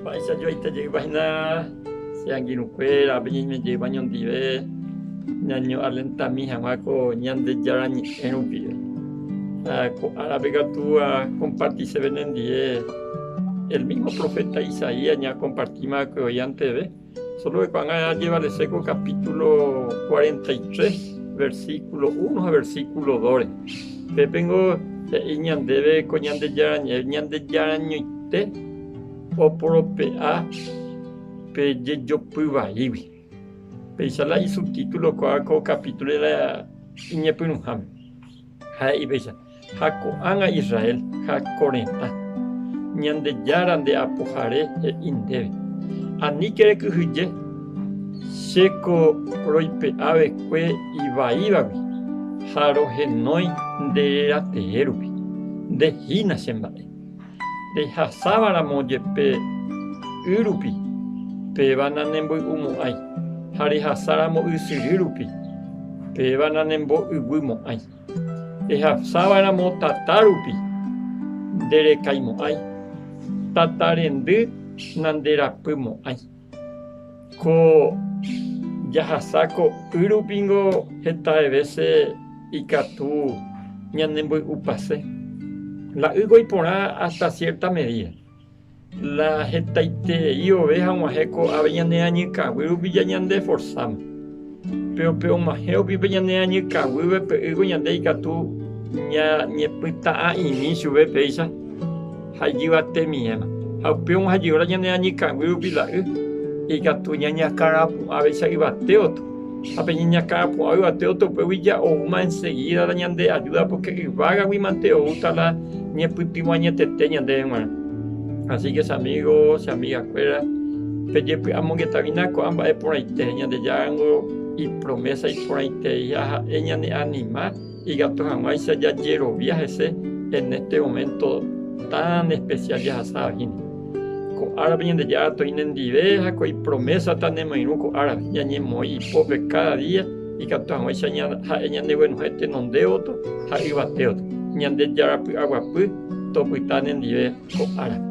Mba'éicha joaite jeypa hína che angirũkuéra, peñe'ẽme jeypa ñondive ñañoalentami hag̃ua ko Ñandejára Ñe'ẽ rupive. Ha ko árape katu akomparti chéve nendive el mísmo proféta Isaías ñaakompartímava'ekue oĩ anteve. Solo eipagã ajevalese ko kapítulo 43, versíkulo 1 ha versíkulo 2-re. Pépe ningo he'i ñandéve ko Ñandejarañoite oporope'a pe jejopy vaígui. Péicha la isubtítulo oikuaa ko kapítulo iñepyrũháme. Ha he'i péicha. ha ko'ág̃a Israel ha ko retã. Ñandejára nde Apohare he'i ndéve, Aníke rekyhyje, che ko roipe'a vekue ivaívagui ha rohenói nde reratee rupi, nde hína che mba'e. Rehasáva ramo jepe y rupi, péva nanemboy'umo'ãi, ha rehasa ramo ysyry rupi, péva nanembo'yguy mo'ãi. Ehasáva'eramo tata rupi, nderekaimo'ãi, tata rendy nanderapymo'ãi. Ko jahasa ko y rupingo hetave vése ikatu ñanemboy'upase. La ýgua iporã hasta cierta medida. La hetaiterei ove haguãhe ko'ápe ñane añykãguy rupi ñande forsáma. Péro pe oguãhẽ upípe ñane añykãguýpe py'ỹko ñande ikatu ñañepyta'a'imi chupe péicha ha ijyva temiẽma. Ha upéva oguãha jey óra ñane añykãguy rupi la y ikatu ñañakãrapu'ãvéicha yvate otro. Ha pe ñañakãpu'a yvate oto upégui ja'oúma ensegída la ñande ajúda, pórke yvágagui mante oúta la ñepytyvõañetete ñandéve g̃uarã. Asíke che amígo, che amigakuéra, pejepy'amongeta hína ko'ã mba'e porãite, Ñandejára ningo ipromésa iporãitereiha ha'e ñaneanima, Ikatu hag̃uáicha jajerovia hese en este momento tan especial jahasa avahína. Ko árape Ñandejára toĩ nendive ha ko ipromésa nemoirũ ko árape. Ñañemoĩ ipópe káda día ikatu hag̃uáicha ha'e ñaneguenohẽ tenondévoto ha yvatévoto. Ñandejára py'aguapy topyta nendive ko árape.